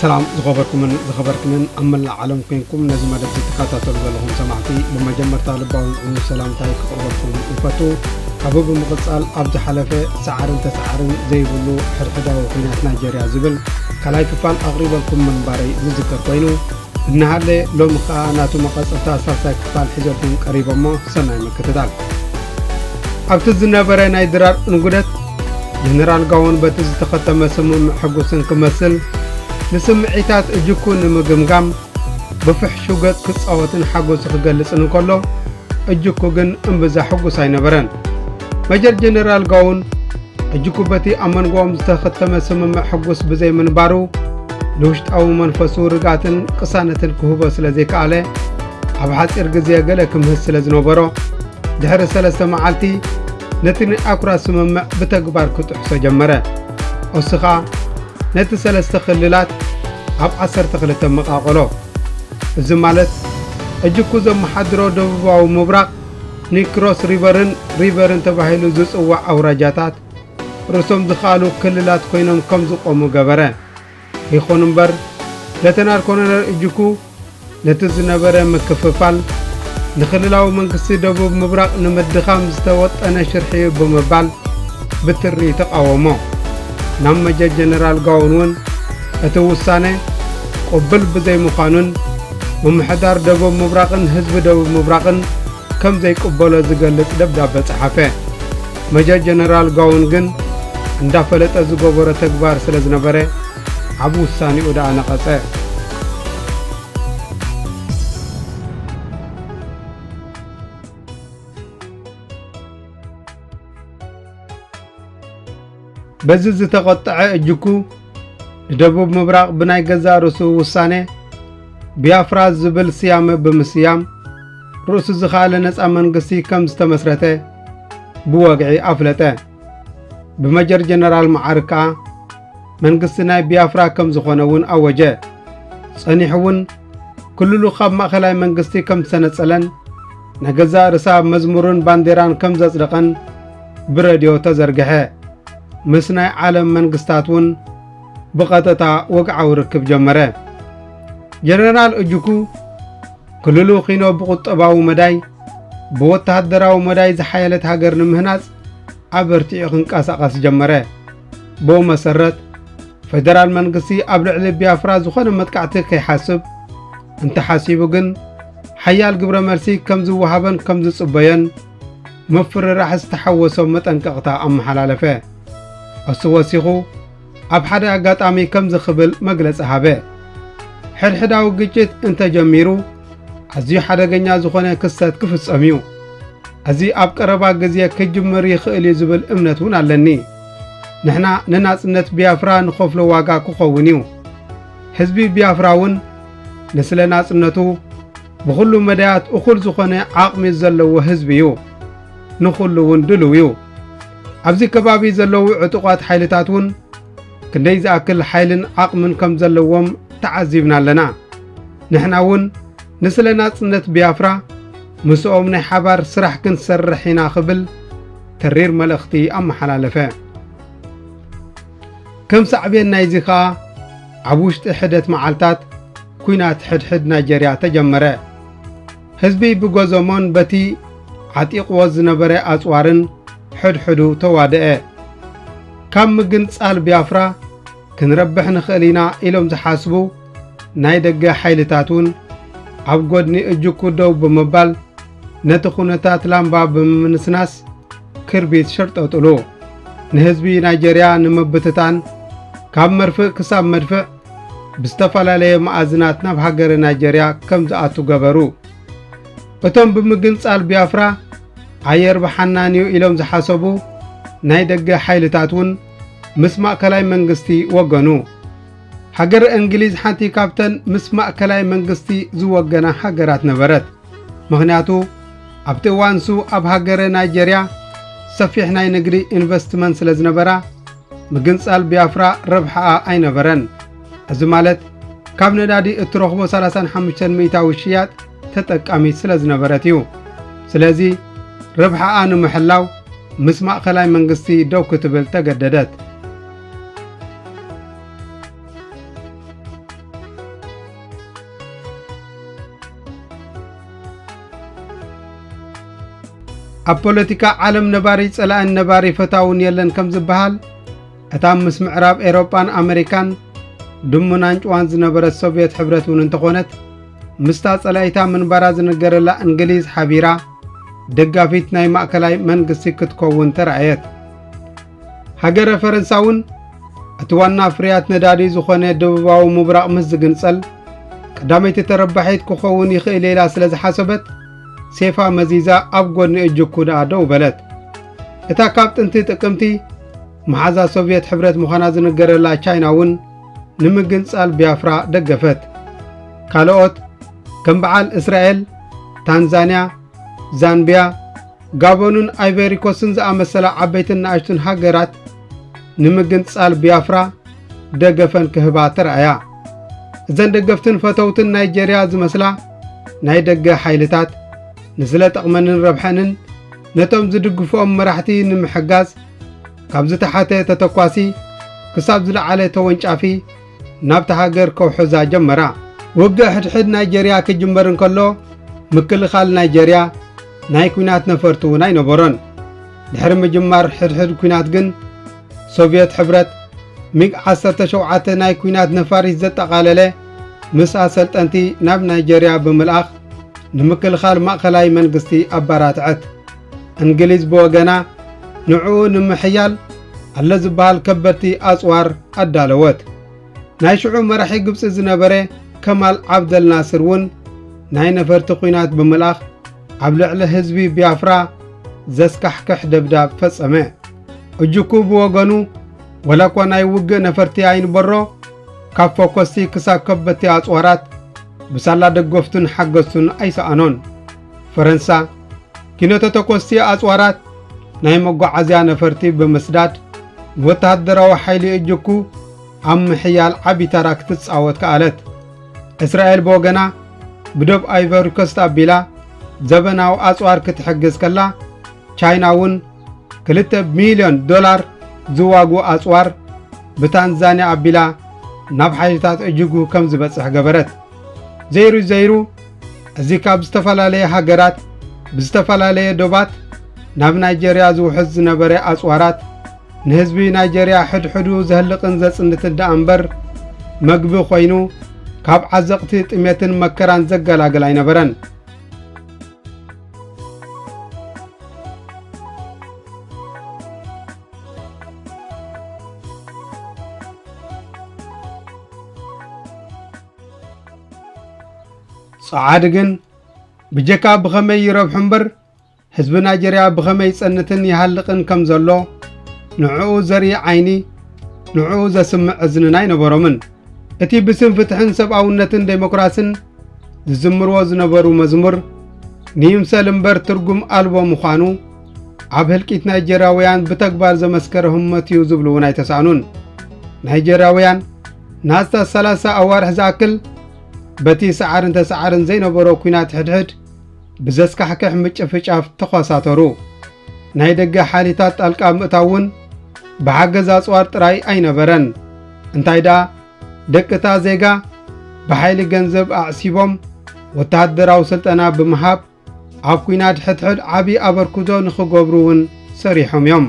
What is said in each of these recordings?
ሰላም ዝኸበርኩምን ዝኸበርክንን ኣብ መላእ ዓለም ኮይንኩም ነዚ መደብ ትከታተሉ ዘለኹም ሰማዕቲ ብመጀመርታ ልባዊ ዝዕኑ ሰላምታይ ክቕርበልኩም ይፈቱ ካብኡ ብምቕፃል ኣብ ዝሓለፈ ሰዓርን ተሰዓርን ዘይብሉ ሕድሕዳዊ ኩናት ናይጀርያ ዝብል ካልኣይ ክፋል ኣቕሪበልኩም ምንባረይ ዝዝከር ኮይኑ እንሃሌ ሎሚ ከኣ ናቱ መቐጸልታ ሳልሳይ ክፋል ሒዘልኩም ቀሪበ እሞ ሰናይ ምክትታል። ኣብቲ ዝነበረ ናይ ድራር እንጉደት ጀነራል ጋዎን በቲ ዝተኸተመ ስምምዕ ሕጉስን ክመስል ንስምዒታት እጅኩ ንምግምጋም ብፍሕሹ ገጽ ክጻወትን ሓጎሱ ክገልጽን እንከሎ እጅኩ ግን እምብዛ ሕጉስ ኣይነበረን። መጀር ጀነራል ጋውን ሕጂኩ በቲ ኣብ መንጎኦም ዝተኸተመ ስምምዕ ሕጉስ ብዘይ ምንባሩ ንውሽጣዊ መንፈሱ ርግኣትን ቅሳነትን ክህቦ ስለ ዘይከኣለ ኣብ ሓጺር ግዜ ገለ ክምህዝ ስለ ዝነበሮ ድሕሪ ሰለስተ መዓልቲ ነቲ ናይ ኣኩራ ስምምዕ ብተግባር ክጥሕሶ ጀመረ ኦስኻ ነቲ ሰለስተ ክልላት ኣብ ዓሰርተ ክልተ መቓቐሎ እዚ ማለት ሕጂ እኩ ዘመሓድሮ ደቡባዊ ምብራቕ ንክሮስ ሪቨርን ሪቨርን ተባሂሉ ዝጽዋዕ ኣውራጃታት ርእሶም ዝኸኣሉ ክልላት ኮይኖም ከም ዝቖሙ ገበረ። ይኹን እምበር ለተናል ኮሎነል እጅኩ ነቲ ዝነበረ ምክፍፋል ንክልላዊ መንግስቲ ደቡብ ምብራቕ ንምድኻም ዝተወጠነ ሽርሒ እዩ ብምባል ብትሪ ተቃወሞ። ናብ መጀር ጀነራል ጋውን እውን እቲ ውሳነ ቅቡል ብዘይምዃኑን ምምሕዳር ደቡብ ምብራቕን ህዝቢ ደቡብ ምብራቕን ከም ዘይቅበሎ ዝገልጽ ደብዳበ ጸሓፈ። መጀር ጀነራል ጋውን ግን እንዳፈለጠ ዝገበሮ ተግባር ስለ ዝነበረ ኣብ ውሳኔኡ ደኣ ነቐጸ። በዚ ዝተቖጠዐ እጅኩ ንደቡብ ምብራቕ ብናይ ገዛእ ርእሱ ውሳነ ቢያፍራ ዝብል ስያመ ብምስያም ርእሱ ዝኸኣለ ነፃ መንግስቲ ከም ዝተመስረተ ብወግዒ ኣፍለጠ። ብመጀር ጀነራል መዓር ከኣ መንግስቲ ናይ ቢያፍራ ከም ዝኾነ እውን ኣወጀ። ጸኒሑ እውን ክልሉ ካብ ማእኸላይ መንግስቲ ከም ዝተነጸለን ናይ ገዛእ ርሳ መዝሙርን ባንዴራን ከም ዘጽደቐን ብረድዮ ተዘርግሐ። ምስ ናይ ዓለም መንግስታት እውን ብቐጥታ ወግዓዊ ርክብ ጀመረ። ጀነራል እጅኩ ክልሉ ኪኖ ብቁጠባዊ መዳይ ብወተሃደራዊ መዳይ ዝሓየለት ሃገር ንምህናጽ ኣበርቲዑ ክንቀሳቐስ ጀመረ። ብኡ መሰረት ፌደራል መንግስቲ ኣብ ልዕሊ ቢያፍራ ዝኾነ መጥቃዕቲ ከይሓስብ እንተሓሲቡ ግን ሓያል ግብረ መልሲ ከም ዝወሃበን ከም ዝጽበዮን ምፍርራሕ ዝተሓወሶ መጠንቀቕታ ኣመሓላለፈ። እሱ ወሲኹ ኣብ ሓደ ኣጋጣሚ ከምዚ ክብል መግለጺ ሃበ። ሕድሕዳዊ ግጭት እንተጀሚሩ ኣዝዩ ሓደገኛ ዝኾነ ክስተት ክፍጸም እዩ። እዚ ኣብ ቀረባ ግዜ ክጅምር ይኽእል እዩ ዝብል እምነት እውን ኣለኒ ንሕና ንናጽነት ቢያፍራ ንኸፍሎ ዋጋ ክኸውን እዩ ህዝቢ ቢያፍራ እውን ንስለ ናጽነቱ ብኹሉ መዳያት እኹል ዝኾነ ዓቕሚ ዘለዎ ህዝቢ እዩ። ንኹሉ እውን ድልው እዩ። ኣብዚ ከባቢ ዘለዉ ዕጡቋት ሓይልታት እውን ክንደይ ዝኣክል ሓይልን ዓቕምን ከም ዘለዎም ተዓዚብና ኣለና። ንሕና እውን ንስለ ናጽነት ቢያፍራ ምስኦም ናይ ሓባር ስራሕ ክንሰርሕ ኢና ክብል ተሪር መልእኽቲ ኣመሓላለፈ። ከም ሳዕቤን ናይዚ ከኣ ኣብ ውሽጢ ሕደት መዓልታት ኩናት ሕድሕድ ናይጀርያ ተጀመረ። ህዝቢ ብጎዞሞን በቲ ዓጢቕዎ ዝነበረ ኣጽዋርን ሕድሕዱ ተዋደኣ። ካብ ምግንጻል ቢያፍራ ክንረብሕ ንኽእል ኢና ኢሎም ዝሓስቡ ናይ ደገ ሓይልታት እውን ኣብ ጎድኒ እጁኩ ደው ብምባል ነቲ ኩነታት ላምባ ብምምንስናስ ክርቢት ሸርጠጥሉ ንህዝቢ ናይጀርያ ንምብትታን ካብ መርፍእ ክሳብ መድፍዕ ብዝተፈላለየ መኣዝናት ናብ ሃገረ ናይጀርያ ከም ዝኣቱ ገበሩ እቶም ብምግንጻል ቢያፍራ ኣየር ብሓናን እዩ ኢሎም ዝሓሰቡ ናይ ደገ ሓይልታት እውን ምስ ማእከላይ መንግስቲ ወገኑ ሃገር እንግሊዝ ሓንቲ ካብተን ምስ ማእከላይ መንግስቲ ዝወገና ሃገራት ነበረት ምኽንያቱ ኣብቲ እዋን ንሱ ኣብ ሃገረ ናይጀርያ ሰፊሕ ናይ ንግዲ ኢንቨስትመንት ስለ ዝነበራ ምግንጻል ቢያፍራ ረብሓኣ ኣይነበረን። እዚ ማለት ካብ ነዳዲ እትረኽቦ 35 ሚእታዊ ሽያጥ ተጠቃሚት ስለ ዝነበረት እዩ። ስለዚ ረብሓኣ ንምሕላው ምስ ማእከላይ መንግስቲ ደው ክትብል ተገደደት። ኣብ ፖለቲካ ዓለም ነባሪ ጸላእን ነባሪ ፈታውን የለን ከም ዝበሃል እታ ምስ ምዕራብ ኤሮጳን ኣመሪካን ድሙን ኣንጭዋን ዝነበረት ሶቭየት ሕብረት እውን እንተኾነት ምስታ ጸላኢታ ምንባራ ዝነገረላ እንግሊዝ ሓቢራ ደጋፊት ናይ ማእከላይ መንግስቲ ክትከውን ተራእየት። ሃገረ ፈረንሳ እውን እቲ ዋና ፍርያት ነዳዲ ዝኾነ ደቡባዊ ምብራቕ ምስ ዝግንጸል ቀዳመይቲ ተረባሒት ክኸውን ይኽእል ኢላ ስለ ዝሓሰበት ሴፋ መዚዛ ኣብ ጎድኒ እጅኩ ደኣ ደው በለት። እታ ካብ ጥንቲ ጥቅምቲ መሓዛ ሶቭየት ሕብረት ምዃና ዝንገረላ ቻይና እውን ንምግንጻል ቢያፍራ ደገፈት። ካልኦት ከም በዓል እስራኤል፣ ታንዛንያ፣ ዛምቢያ ጋቦንን ኣይቨሪኮስን ዝኣመሰላ ዓበይትን ንኣሽቱን ሃገራት ንምግንጻል ቢያፍራ ደገፈን ክህባ ተረኣያ እዘን ደገፍትን ፈተውትን ናይጀርያ ዝመስላ ናይ ደገ ሓይልታት ንስለ ጠቕመንን ረብሐንን ነቶም ዝድግፍኦም መራሕቲ ንምሕጋዝ ካብ ዝተሓተ ተተኳሲ ክሳብ ዝለዓለ ተወንጫፊ ናብታ ሃገር ከውሕዛ ጀመራ። ውግእ ሕድሕድ ናይጀርያ ክጅመር እንከሎ ምክልኻል ናይጀርያ ናይ ኲናት ነፈርቲ እውን ኣይነበሮን። ድሕሪ ምጅማር ሕድሕድ ኲናት ግን ሶቭየት ሕብረት ሚግ 17 ናይ ኲናት ነፋሪት ዘጠቓለለ ምስ ኣሰልጠንቲ ናብ ናይጀርያ ብምልኣኽ ንምክልኻል ማእኸላይ መንግስቲ ኣባራትዐት። እንግሊዝ ብወገና ንዕኡ ንምሕያል ኣለ ዝበሃል ከበድቲ ኣጽዋር ኣዳለወት። ናይ ሽዑ መራሒ ግብጺ ዝነበረ ከማል ዓብደል ናስር እውን ናይ ነፈርቲ ኲናት ብምልኣኽ ኣብ ልዕሊ ህዝቢ ቢያፍራ ዘስካሕክሕ ደብዳብ ፈጸመ። እጅኩ ብወገኑ ወላ እኳ ናይ ውግእ ነፈርቲ ኣይንበሮ ካብ ፎኮስቲ ክሳብ ከበድቲ ኣጽዋራት ብሳላ ደገፍቱን ሓገዝቱን ኣይሰኣኖን። ፈረንሳ ኪነተ ተኮስቲ ኣጽዋራት ናይ መጓዓዝያ ነፈርቲ ብምስዳድ ወተሃደራዊ ሓይሊ እጅኩ ኣብ ምሕያል ዓቢ ተራ ክትጻወት ከኣለት። እስራኤል ብወገና ብደብ ኣይቨሪኮስት ኣቢላ ዘበናዊ ኣጽዋር ክትሕግዝ ከላ ቻይና እውን ክልተ ሚልዮን ዶላር ዝዋጉ ኣጽዋር ብታንዛንያ ኣቢላ ናብ ሓይልታት እጅጉ ከም ዝበጽሕ ገበረት ዘይሩ ዘይሩ እዚ ካብ ዝተፈላለየ ሃገራት ብዝተፈላለየ ዶባት ናብ ናይጀርያ ዝውሕዝ ዝነበረ ኣጽዋራት ንህዝቢ ናይጀርያ ሕድሕዱ ዘህልቕን ዘጽንትን ደኣ እምበር መግቢ ኮይኑ ካብ ዓዘቕቲ ጥሜትን መከራን ዘገላግል ኣይነበረን። ጸዓድ ግን ብጀካ ብኸመይ ይረብሑ እምበር ህዝቢ ናይጀርያ ብኸመይ ይጸንትን ይሃልቕን ከም ዘሎ ንዕኡ ዘርኢ ዓይኒ ንዕኡ ዘስምዕ እዝንን ኣይነበሮምን እቲ ብስም ፍትሕን ሰብኣውነትን ዴሞክራስን ዝዝምርዎ ዝነበሩ መዝሙር ንይምሰል እምበር ትርጉም ኣልቦ ምዃኑ ኣብ ህልቂት ናይጀርያውያን ብተግባር ዘመስከረ ህሞት እዩ ዝብሉ እውን ኣይተሳእኑን ናይጀርያውያን ንኣስታት 30 ኣዋርሕ ዝኣክል በቲ ሰዓርን ተሰዓርን ዘይነበሮ ኲናት ሕድሕድ ብዘስካሕክሕ ምጭፍጫፍ ተዃሳተሩ ናይ ደገ ሓይልታት ጣልቃ ምእታው እውን ብሓገዝ ኣጽዋር ጥራይ ኣይነበረን እንታይ ደኣ ደቅታ ዜጋ ብሓይሊ ገንዘብ ኣዕሲቦም ወተሃደራዊ ስልጠና ብምሃብ ኣብ ኲናት ሕድሕድ ዓብዪ ኣበርክቶ ንኽገብሩ እውን ሰሪሖም እዮም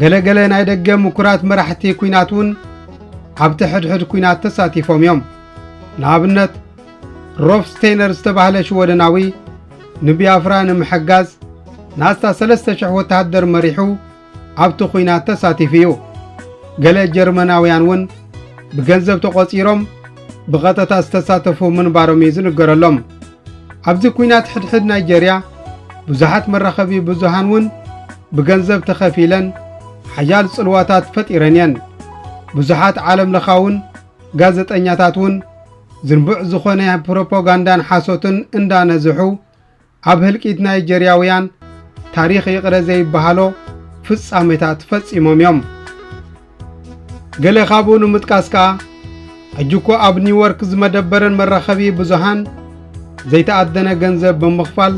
ገለ ገለ ናይ ደገ ምኩራት መራሕቲ ኲናት እውን ኣብቲ ሕድሕድ ኲናት ተሳቲፎም እዮም ንኣብነት ሮፍ ስቴይነር ዝተባህለ ሽወደናዊ ንቢያፍራ ንምሕጋዝ ንኣስታት 3,000 ወተሃደር መሪሑ ኣብቲ ኲናት ተሳቲፉ እዩ። ገለ ጀርመናውያን እውን ብገንዘብ ተቖጺሮም ብቐጥታ ዝተሳተፉ ምንባሮም እዩ ዝንገረሎም። ኣብዚ ኲናት ሕድሕድ ናይጀርያ ብዙሓት መራኸቢ ብዙሃን እውን ብገንዘብ ተኸፊለን ሓያል ጽልዋታት ፈጢረን እየን። ብዙሓት ዓለም ለኻውን ጋዜጠኛታት እውን ዝንቡዕ ዝኾነ ፕሮፓጋንዳን ሓሶትን እንዳነዝሑ ኣብ ህልቂት ናይጀርያውያን ታሪኽ ይቕረ ዘይበሃሎ ፍጻሜታት ፈጺሞም እዮም። ገለ ካብኡ ንምጥቃስ ከኣ ሕጂ እኮ ኣብ ኒውዮርክ ዝመደበረን መራኸቢ ብዙሃን ዘይተኣደነ ገንዘብ ብምኽፋል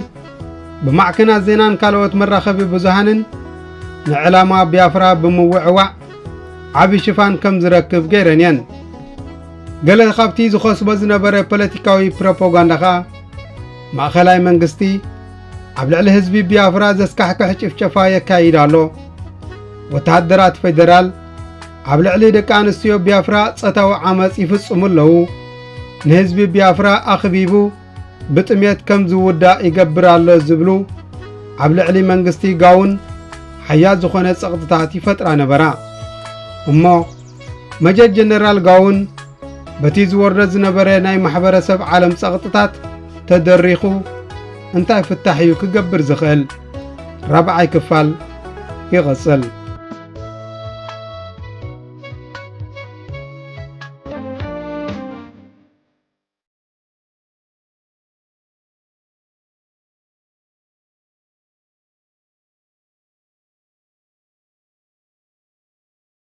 ብማዕከናት ዜናን ካልኦት መራኸቢ ብዙሃንን ንዕላማ ቢያፍራ ብምውዕዋዕ ዓቢ ሽፋን ከም ዝረክብ ገይረን እየን ገለ ካብቲ ዝኸስቦ ዝነበረ ፖለቲካዊ ፕሮፓጋንዳ ኸኣ ማእኸላይ መንግስቲ ኣብ ልዕሊ ህዝቢ ቢያፍራ ዘስካሕክሕ ጭፍጨፋ የካይድ ኣሎ። ወተሃደራት ፌደራል ኣብ ልዕሊ ደቂ ኣንስትዮ ቢያፍራ ጸታዊ ዓመፅ ይፍጽሙ ኣለዉ። ንህዝቢ ቢያፍራ ኣኽቢቡ ብጥሜት ከም ዝውዳእ ይገብር ኣሎ ዝብሉ ኣብ ልዕሊ መንግስቲ ጋውን ሓያል ዝኾነ ጸቕጥታት ይፈጥራ ነበራ እሞ መጀር ጀነራል ጋውን በቲ ዝወርደ ዝነበረ ናይ ማሕበረሰብ ዓለም ጸቕጥታት ተደሪኹ እንታይ ፍታሕ እዩ ክገብር ዝኽእል? ራብዓይ ክፋል ይቕጽል።